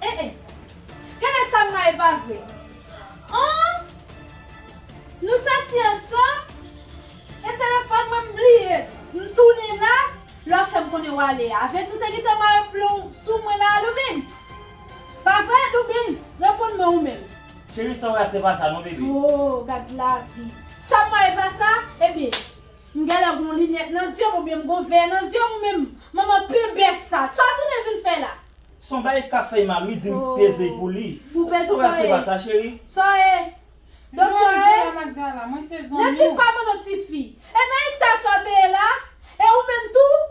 Eh eh Gade sa mwen e pa vre An Nou soti ansanm E telefòn mwen m bliye M tounen la Lè w fè m konnen w ale a Vens ou te gentan mare plon w sou mwen la alou Vens Pa vre alou Vens Reponn mwen ou menm Cheri sa w wè a se pa sa non bebe Ooh gad lavi Sa mwen e pa sa Ebyen M genlè gon linèt nan zyem ou byen m gon vè nan zyem ou menm manman pubers sa sa w tounen vin fè la. Son bagay kap fèy mal wi dim peze pou li sa wè se pa sa cheri. Sa w ye Doktè e Nèt li pa manno tifi e nan eta sa w te ye la e ou menm tou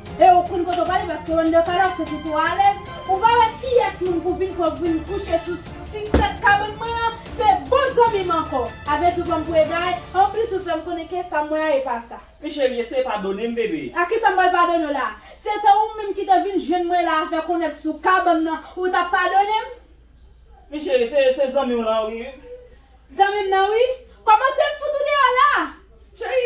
E ou konn kote ou prale paske Wonder Palace se kote ou alèz. Ou pa wè kiyès moun pou vin fòk vin kouche sou ti tèt kabann mwen an, se bon zanmi m ankò. Avèdi ou pranm pou egare, anplis ou fèm konnen ke sa mwen an e pa sa. Pi cheri eseye padone m bebe. A kisa m pral padone w la? Se te ou menm ki te vin jwenn mwen la a fè konnen k sou kabann nan ou tap padone m? Pi cheri se se zanmi w lan wi. Zanmi m nan wi. Kòmanse m fout ou deyò la a! Cheri!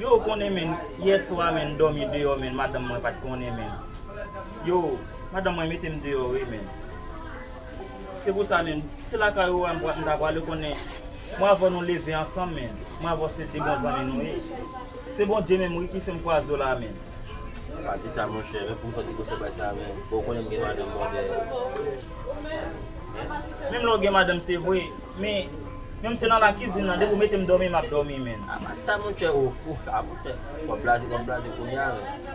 Yoo konnen menn yèswa menn domi deyò menn madanm mwen pat konnen menn yoo madanm mwen metem deyò wi menn se pou sa menn se lakay ou a m ta prale konnen mwen avèw nou leve ansanm menn mwen avèw se 2 bon zanmi nou ye se Bondye menm wi ki fèm kwaze w la menn. Pa di sa monchè men poum fè ti gosè bay sa menn bon ou konnen m gen madanm bòdè menn. Menm lè w gen madanm se vre. Men, menm se nan la kizin nan depi ou metem domi map domi menn. A pati sa mon chè ou fou mon chè. Wap blaze wap blaze kounye a menn.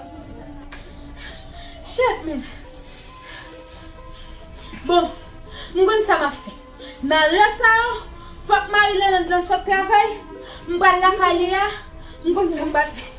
Chèf menn. Bon, m konn sa map fè. Nan lè sa yo, fòk Marie Lelande lan sot travay, m pral lakay li a, m konn sa m pral fè.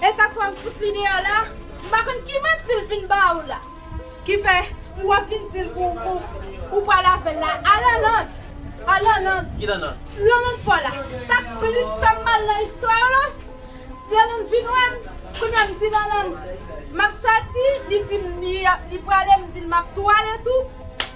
E sak fè ou fout li deyò la? M pa konn ki manti l fin ba ou la. Ki fè ou ap vin di l pou ou pral avè l la? A Lanland! A Lanland! Ki Lanland? Lanland fò la. Sak plis fè m mal nan istwa yo la, Lanland vin wè m, kounye a m di Lanland m ap sòti, li di m li prale, m di l m ap tou ale tou.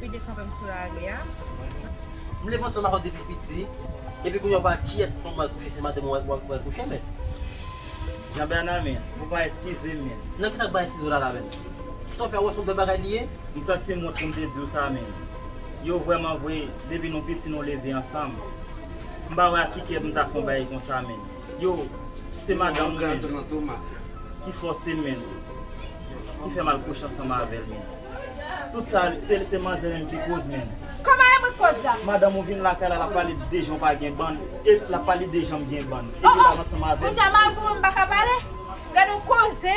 Pi desan vèm sou lari a. M leve ansanm ak ou depi piti, epi kounye a w pa wè kiyès pou mwen kouche se madanm ou wè wè kouche menn. Jean Bernard men, ou pa eskize m menn. Nan kisa m pa eskize w la la menn? Sa w fè a ou wè se yon bèl bagay li ye? M santi m wont pou m te di w sa menn. Yo vrèman vre depi nou piti nou leve ansanm. M pa wè ak ki kè pou m ta fè yon bagay konsa menn. Yo, se madanm gaz lan tou mafya. Ki fòse menl. Ki fè mal kouche ansanm avèl menm. Tout sa se manzè menm ki koz menm. Kòman e mwen ki koz la? Madanm ou vin lakay la lap pale de jan ou pa gen bann e lap pale de janm gen bann epi lal ansanm avèl. Ohh! Kounya madanm ou menm paka pale? Gadon koze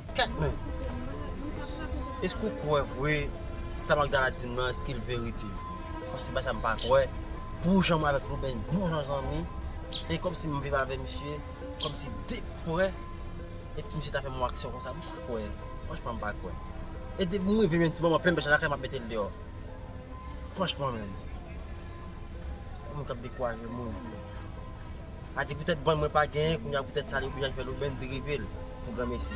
Kèt men! Eske ou kwè vre sa Magdala di m nan eske l verite? Mwen se pa sa m pa kwè. Pou jan mwen avèk Roben n bon jan zanmi, e kòm si m viv avè misye kòm si de frè, e pou misye ta fè m yon aksyon konsa, m pa kwè. Franchman m pa kwè. E depi m rive yon ti moman plenn pèch lakay m ap mete l deyò. Franchman menm. Moun k ap dekwaje moun. A di poutèt bann mwen pa genyen kounye a poutèt sa li oblije al fè lobenn drive l pou granmesi.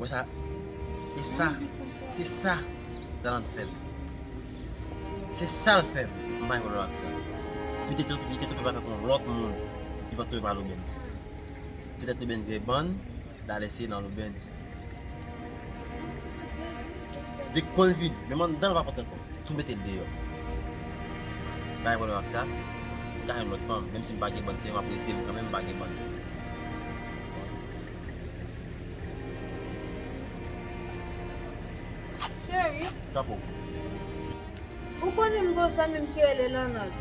Wè sa? E sa? Se sa Daland fè m. Se sa l fè m. M pa gen pwoblèm ak sa. Li te twouve l avèk yon lòt moun, li pa t twouve m nan loubens. Petèt loubens gen bann, Dalè se nan loubens. Dèk kò l vid, menm anndan l pa kontan ankò. Tou mete l deyò. M pa gen pwoblèm ak sa. Li ka jwenn lòt fanm. Menm si m pa gen bann, se yon apresye m kanmenm m pa gen bann. Cheri, ou konnen m gen yon zanmi m ki rele Lònòt.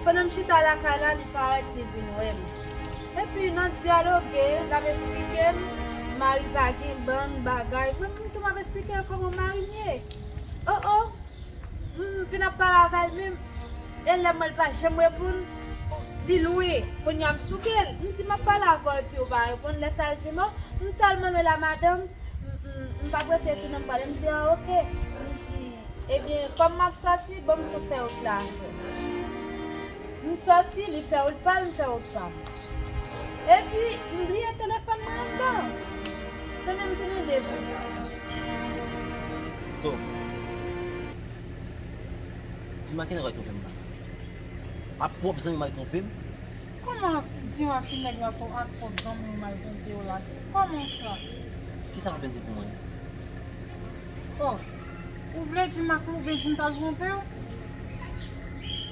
Pandan m chita lakay la, li parèt, li vin wè m. Epi, n ap dyaloge, l ap esplike m mari pa gen bann bagay, menm tou m ap esplike l kòman mari m ye. O o! M vin ap pale avè l menm e lèm wè l pa janm reponn li lwen kounye a m souke l m di map pale avè w epi ou pa reponn lè sa l di m o m tèlman lwen la madanm m pap rete tounen m pale m di an ok m di ebyen kòm map sòti banm tou fè wout la avè w m sòti li fè wout pa l m fè wout pa m. Epi m bliye telefòn mwen andan. Tande m tounen devan yo. Stop. Di m a ki nèg w al twonpe m la. Ak pwòp zanmi w m al twonpe m? Kòman di m a ki nèg la to ak pwòp zanmi w m al twonpe w la? Kòman sa? Ki sa w vle di pou mwen? Oh, ou vle di m ak Louben di m t al twonpe w?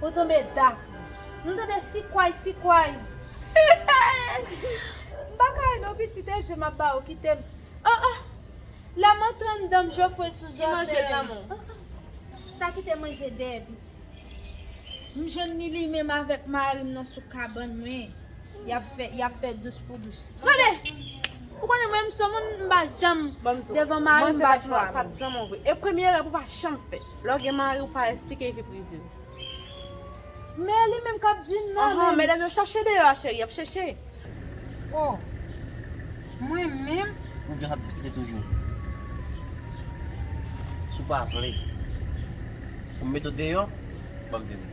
Ou tonbe dak wi. Nou tande sikway sikway. M pa ka ri non pitit e di m ap ba ou kite m. Oh oh la m antann danm jofre sou zòtèy. Ki manje lanmou. Oh oh sa ki te manje dèyè piti. M jwenn li li menm avèk mari m nan sou kabann mwen. Yap fè, yap fè dous pou dous. Gade! Ou konnen mwen m son moun m pa janm devan mari m pa chwa. Pat zanman vre. E premye erè pou pa chanm fè. Lò gen mari ou pa esplike vi prive ou. Men li menm kap di non menm. Anhan medam yo chache deyò a cheri, yap cheche. Oh! Mwen menm? Ou just ap diskite toujou. Si w pa vle pou m mete w deyò, banm vini.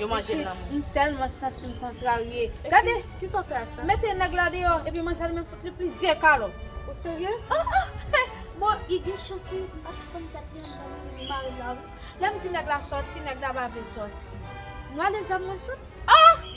Yo manje l nan mou. M telman santi m kontrarye. Gade! Kisa w fè ak sa? Mete nèg la deyò epi manzè li menm fout li plizyè kalot. Ou serye? Ah ah! Bon, li gen chans wi, m pa t konn katriyèm dan moun gen mal la wi. Lè m di nèg la soti, nèg la pa vle soti. M rale zam mwen sot. Ah!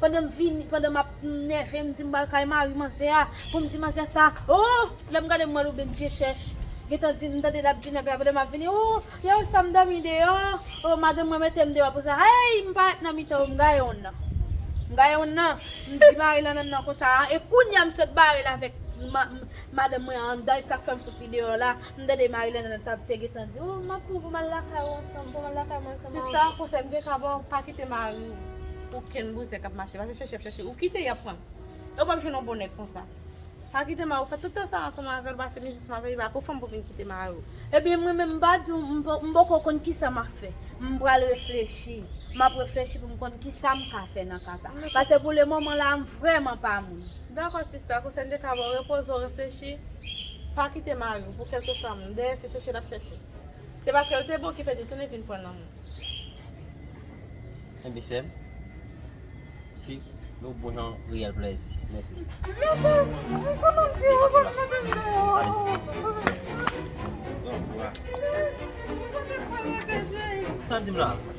Pandan m vini, pandan m ap nève m di m pral kay mari manzè a pou m di manzè sa ooh lè m gade m wè Louben je chèch gentan di m tande l ap di nèg la pandan m ap vini ooh lè ou sa m dòmi deyò ooh madanm mwen mete m deyò pou sa hey m parèt nan mitan yo m gaye wonn nan m gaye wonn nan m di mari Lanlande nan konsa e kounya m sot bare l avèk madanm mwen anndan e sa k fè m fout li deyò la. M tande Marilène nan tap te gentan di oh map pran poum al lakay ou ansanm poum al lakay mwen ansanm avèw. Sista yon konsèy m te ka baw pa kite mariw pou kenn bouzen kap mache pase chèche yap chèche ou kite yap pran e ou pap jwenn yon bon nèg konsa pa kite mariw fè tout tan sa ansanm avèl pase mizit ansanm avèl li pa pou fanm pou vin kite mariw. Ebyen mwen menm m pa diw m poko konn kisa map fè m pral reflechi map reflechi poum konn kisa m ka fè nan ka sa pase pou le moman la m vrèman pa moun. Dakò sista konsèy m te ka baw repoze w reflechi. Pa kite mari w pou kèlkeswa moun. Dèyè se chèche l ap chèche. Se paske l te bon ki fè li tounen vin pran nan moun. Enben sè m, se yon bon jan reyèl plèzi. Mèsi. Sa w di m la?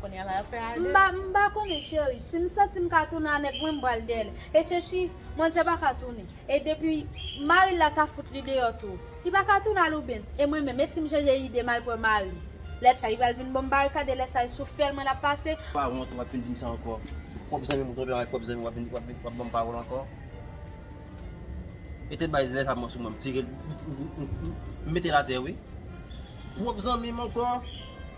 Kounya la yap fè a 2. M pa m pa konnen cheri, si m santi m ka tounen a nèg mwen m pral dèyè l e se si manzè pa ka tounen e depi mari l la ta fout li deyò tou li pa ka tounen a Loubens e mwen menm e si m chanje ide m al pran mari m lè sa li pral vin ban m barikad e lè sa e sou fèl mwen l ap pase. M pa wont wap vin di m sa ankò pwòp zanmi m tonbe avèk pwòp zanmi wap vin wap vin wap ban m pawòl ankò e tèt bay zilè sa pran sou mwen m tire l m mete l atè wi pwòp zanmi m ankò.